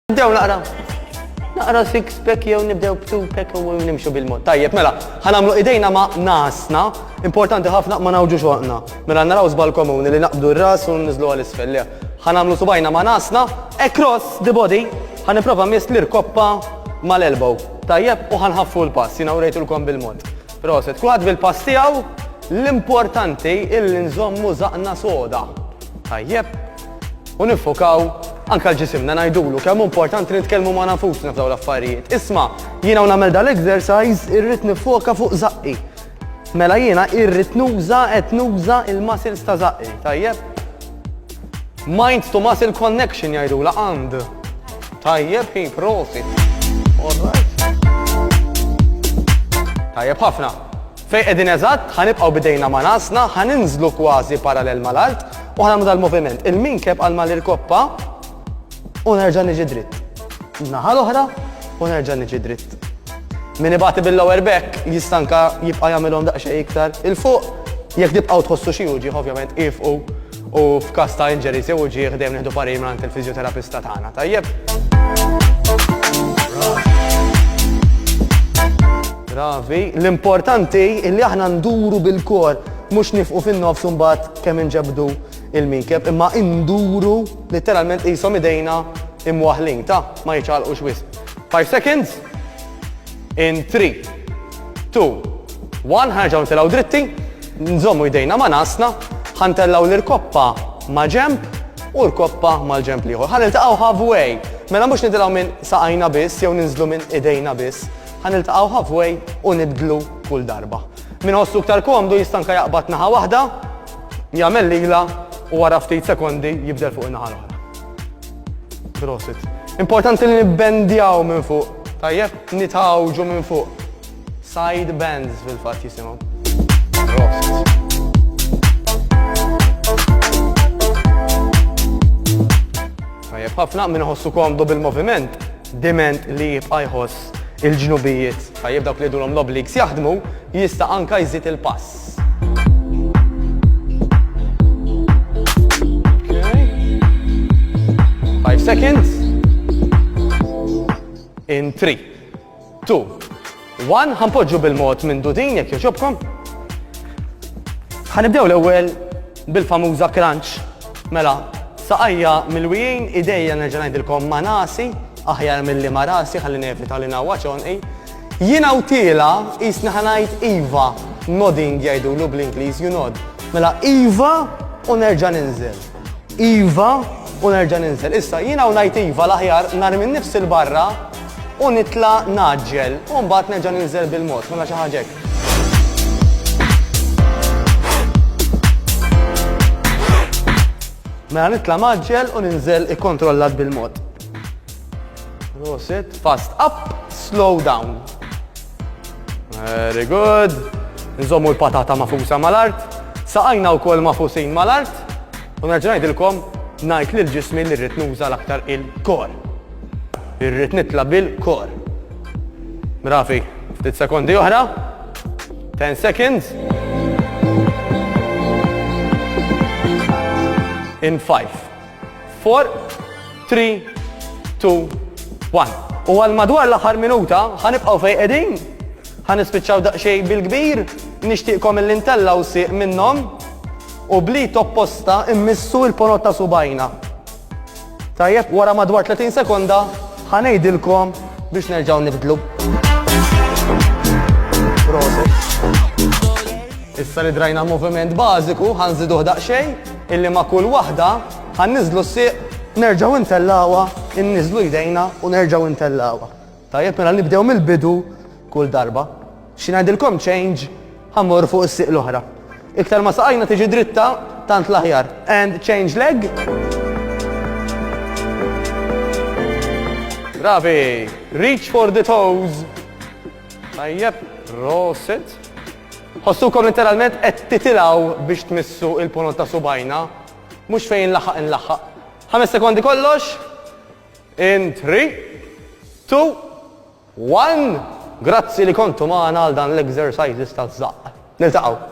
Nibdew naqra. Naqra six pack jew nibdew b'two pack u nimxu bil-mod. Tajjeb, mela, ħanamlu idejna ma' nasna, importanti ħafna ma nawġu xoqna. Mela naraw żbal komuni li naqbdu r-ras u nizlu għal isfel. Ħanamlu subajna ma' nasna, across the body, ħaniprofa mist li rkoppa mal-elbow. Tajjeb, u ħanħaffu l-pass, jina u rejtulkom bil-mod. Proset, kulħadd bil-pass tiegħu, l-importanti il-nżommu zaqna soda. Tajjeb, u nifokaw anka l-ġisimna ngħidulu kemm importanti nitkellmu ma' nafusna f'daw l-affarijiet. Isma' jiena nagħmel dal-exercise irrid nifoka fuq zaqqi. Mela jiena irrid nuża qed nuża il-muscles ta' zaqqi, tajjeb? Mind to muscle connection jgħidula għand. Tajjeb hi prosit. Tajjeb ħafna. Fejn qegħdin eżatt, ħa nibqgħu b'idejna ma' rasna, ħa ninżlu kważi parallel mal-art u ħa nagħmlu dal-moviment. Il-minkeb għal ma nirkoppa u nerġa' niġi dritt. Naħa l-oħra u nerġa' niġi dritt. Min ibati bil-lower back jista' anke jibqa' jagħmilhom daqsxejn iktar 'il fuq. Jekk tibqgħu tħossu xi wġigħ ovvjament iefqu. U f'każ ta' injuries jew uġigħ dejjem nieħdu parir mingħand il-fiżjoterapista tagħna, tajjeb? Ravi, l-importanti li aħna nduru bil-kor, mhux nifqu fin-nofs imbagħad kemm inġebdu il-minkeb, imma induru literalment qishom idejna imwaħlin, ta' ma jiċċaqlqux wisq. 5 seconds. In 3, 2, 1, ħanġaw ntilaw dritti, nżommu jdejna ma' nasna, ħantellaw l-irkoppa ma' ġemp u l-koppa mal-ġemp liħor. Ħan iltaqaw halfway, mela mux nitilaw minn saqajna biss, jew ninżlu minn idejna biss, ħan iltaqaw halfway u nibdlu kull darba. Min ħossu ktar komdu jistanka jaqbad naħa wahda, jagħmel lila u wara ftit sekondi jibdel fuq naħa l-oħra. Prosit. Importanti li nibbendjaw minn fuq. Tajjeb, nitawġu minn fuq. Side bends fil-fat jisimaw. Prosit. Tajjeb, ħafna minn ħossu komdu bil-moviment, diment li jibqa jħoss il-ġnubijiet. Tajjeb dawk li dulom l-obligs jaħdmu, jista' anka jżid il-pass. Five seconds. In three, two, one. Ħanpoġġu bil-mod minn dudin jekk joġobkom. Ħanibdew l-ewwel bil-famuża crunch. Mela, saqajja mill-wijin idejja nerġa' ngħidilkom ma' nasi, aħjar mill-li ma' rasi ħalli nevita li nawwa ċonqi. Jien għawtielha qisni ħa ngħid iva, nodding jgħidulu bl-Ingliż, you nod. Mela iva u nerġa' ninżel. Iva u nerġa' ninżel. Issa jien hawn ngħid iva l-aħjar narmi nnifsi l-barra u nitla' naġġel u mbagħad nerġa' ninżel bil-mod, mela xi ħaġa hekk. Mela nitla' maġġel u ninżel ikkontrollat bil-mod. Prosit. Fast up, slow down. Very good. Nżommu l-patata mafusa mal-art. Saqajna u kol mafusin mal-art. U nerġnajdilkom najt li l-ġismi li rrit nuża l-aktar il-kor. Irrit nitla bil-kor. Brafi, ftit sekondi oħra. 10 seconds. In 5, 4, 3, 2, 1. U għal madwar l-aħħar minuta ħanibqgħu fejn qegħdin. Ħanispiċċaw daqsxejn bil-kbir, nixtieqkom il intella u sieq minnhom u bli topposta immissu il-ponot ta' subajna. Tajjeb, wara madwar 30 sekonda ħanejdilkom biex nerġgħu nibdlu. Issa li drajna moviment bażiku, ħanżiduh daqsxejn, Illi ma' kull waħda ħa nniżżlu s-sieq. Nerġgħu ntellgħuha, inniżżlu jdejna u nerġgħu ntellgħuha. Tajjeb, mela nibdew mill-bidu kull darba. Xi ngħidilkom change, ħa mmorru fuq is-sieq l-oħra. Iktar ma saqajna tiġi dritta, tant l-aħjar. And change leg. Bravi! Reach for the toes. Tajjeb, prosit. Tħossukom letteralment qed titilgħu biex tmissu il-ponot ta' subgħajna? Mhux fejn inlaħħaq inlaħħaq. Ħames sekondi kollox. In three, two, one. Grazzi li kontu magħna għal dan l-exercises taż-żaqq. Niltaqgħu.